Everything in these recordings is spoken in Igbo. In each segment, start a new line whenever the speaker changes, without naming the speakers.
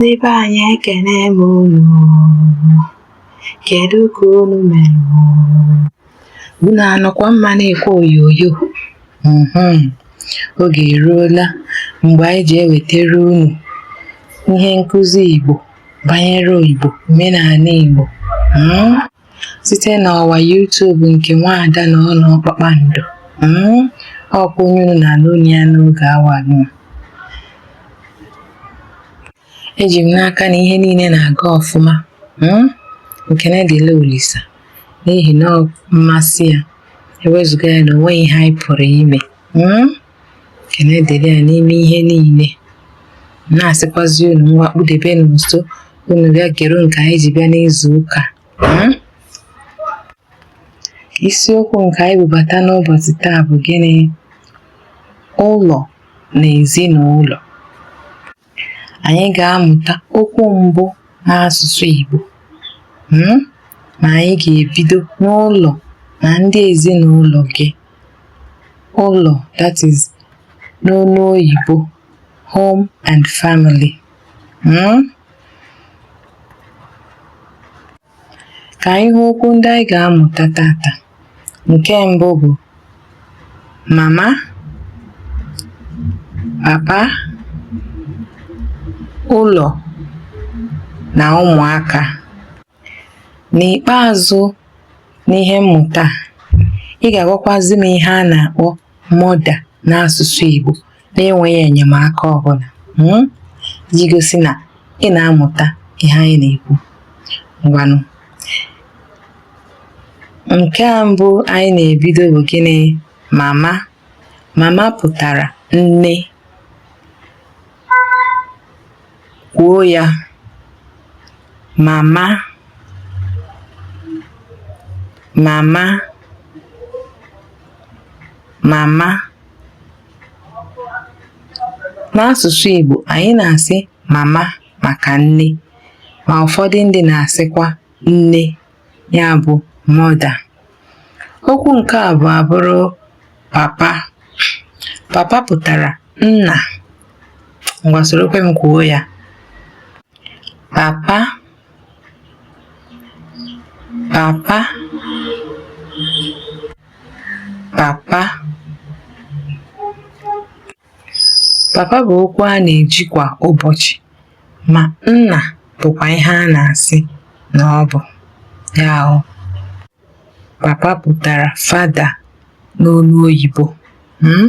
Ndị be anyị ekene m unu, kedu ka unu mere? Unu anọkwa mma na-ekwe oyoyo? Mhm. Oge eruola mgbe anyị ji ewetara unu ihe nkụzi Igbo banyere Igbo, omenala Igbo. Mm? site n'ọwa YouTube nke Nwaada Nọọnọ Kpakpando hmm? ọkwa onye unu na-anụ olu ya n'oge awa nụ eji m n'aka na ihe niile na-aga ọfụma hmm? ekene dịlị Olisa n'ihi na mmasị ya ewezuga ya na onweghị ihe anyị pụrụ ime hmm? ekene dịrị ya n'ime ihe niile na-asịkwazi unu ngwa kpudebenụ nso unu bịa gere nke anyị ji bịa n'izu ụka hmm? isiokwu nke anyị bubata n'ụbọchị taa bụ gịnị ụlọ na ezinụlọ anyị ga-amụta okwu mbụ n'asụsụ Igbo hmm? ma anyị ga-ebido n'ụlọ na ndị ezinụlọ gị ụlọ that is n'olu oyibo home and family hmm? Ka anyị hụ okwu ndị anyị ga-amụta tata. Nke mbụ bụ mama, papa, ụlọ na ụmụaka. N'ikpeazụ n'ihe mmụta a, ị ga-agwakwazi m ihe a na-akpọ mother n'asụsụ Igbo. na-enweghị enyemaka ọ bụla hmm? iji gosi na ị na-amụta ihe anyị na-ekwu. Ngwanụ, nke a mbụ anyị na-ebido bụ gịnị? Mama. Mama pụtara nne. Kwuo ya. Mama. Mama. Mama. N'asụsụ Igbo, anyị na-asị mama maka nne ma ụfọdụ ndị na-asịkwa nne ya bụ mother. Okwu nke abụọ abụrụ papa. Papa pụtara nna. Ngwa sorokwe m kwuo ya. Papa papa papa papa bụ okwu a na-eji kwa ụbọchị ma nna bụkwa ihe a na-asị na ọ bụ ya ahụ papa pụtara father n'olu oyibo hmm?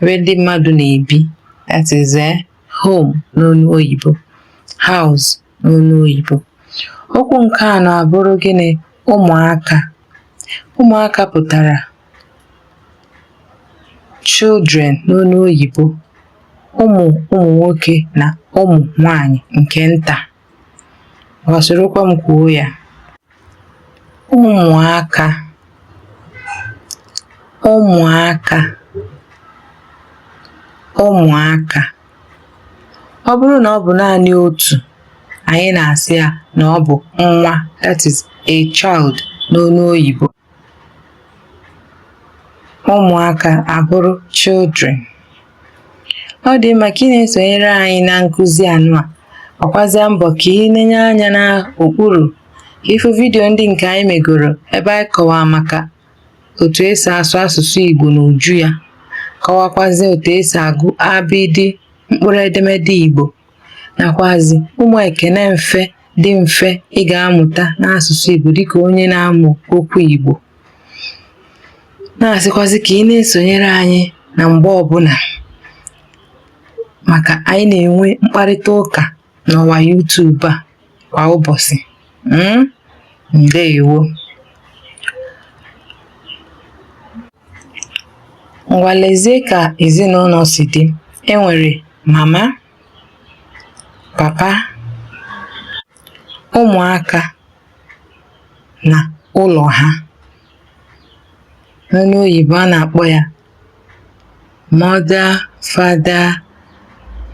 ebe ndị mmadụ na-ebi that is eh, home n'olu oyibo house n'olu oyibo okwu nke anọ abụrụ gịnị ụmụaka ụmụaka pụtara children n'olu oyibo ụmụ ụmụ nwoke na ụmụ nwanyị nke nta ngwa sorokwa m kwuo ya ụmụaka ụmụaka ụmụaka ọ bụrụ na ọ bụ naanị otu anyị na-asị ya na ọ bụ nwa that is a child n'olu oyibo ụmụaka abụrụ children ọ dị mma ka ị na-esonyere anyị na nkụzi anụwa gbakwazịa mbọ ka ị nenye anya n'okpuru ịfụ vidiyo ndị nke anyị megoro ebe anyị kọwaa maka otu esi asụ asụsụ Igbo n'uju ya kọwakwazie otu esi agụ abịdị mkpụrụ edemede Igbo nakwazi ụmụ ekene mfe dị mfe ị ga-amụta n'asụsụ Igbo dịka onye na-amụ okwu Igbo na-asịkwazị ka ị na-esonyere anyị na mgbe ọbụla maka anyị na-enwe mkparịta ụka n'ọwa YouTube a kwa ụbọchị mm? ndewo ngwa lezie ka ezinụlọ si dị e nwere mama papa ụmụaka na ụlọ ha n'olu oyibo a na-akpọ ya Mother, father,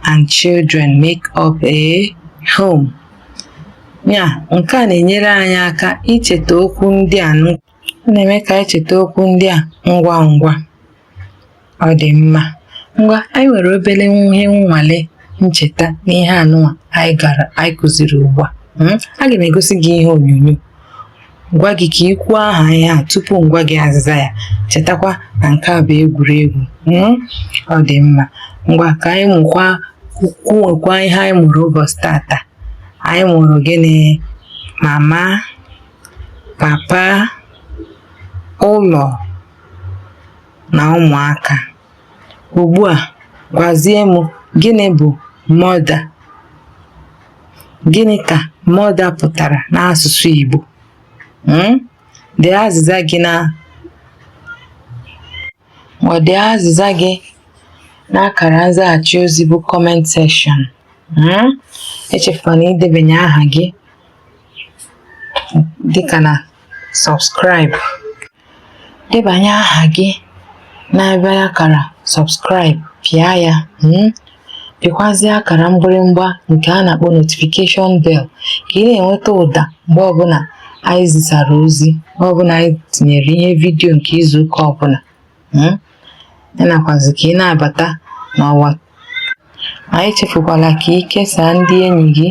and children make up a home. Ya, nke a na-enyere anyị aka icheta okwu ndị a na-eme ka anyị cheta okwu ndị a ngwa ngwa. Ọ dị mma. Ngwa, anyị nwere obere ihe nnwale ncheta n'ihe anụwa anyị gara anyị kụziri ugbu a. Hmm? Aga m egosi gị ihe onyonyo. gwa gị ka ị kwuo aha ihe a tupu m gwa gị azịza ya chetakwa na nke a bụ egwuregwu mm? ọ dị mma ngwa ka anyị mụkwa kwuwekwa ihe anyị mụrụ ụbọchị tata anyị mụrụ gịnị mama papa ụlọ na ụmụaka Ugbu a, gwazie m gịnị bụ mother? Gịnị ka mother pụtara n'asụsụ Igbo? um Dee azịza gị na ma dee azịza gị n'akara nzaghachi ozi bụ comment section. um Echefukwana idebanye aha gị dịka na subscribe. debanye aha gị n'ebe akara subscribe pịa ya hmm? pịkwazie akara mgbịrịmgba nke a na-akpọ notification bell ka ị na-enweta ụda mgbe ọbụla anyị zisara ozi mgbe ọbụla anyị tinyere ihe vidiyo nke izuụka ọbụla hmm? nakwazi ka ị na-abata n'ọwa anyị echefukwala ka ị kesaa ndị enyi gị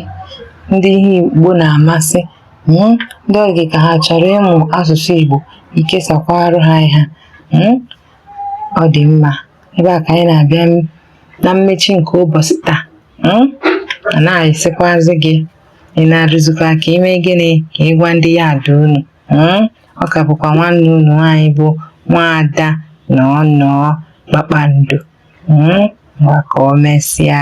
ndị ihe Igbo na-amasị hmm, ndị ọ dị ka ha chọrọ ịmụ asụsụ Igbo i kesakwara ha ihe hmm, ọ dị mma ebe a ka anyị na-abịa na mmechi nke ụbọchị taa hmm, a na-asịkwazi gị ị nọrọzikwa ka i mee gịnị ka ị gwa ndị yard unu ọ ka bụkwa nwanne unu nwaanyị bụ nwaada Nọọnọọ Kpakpando hmm? ngwa ka o mesịa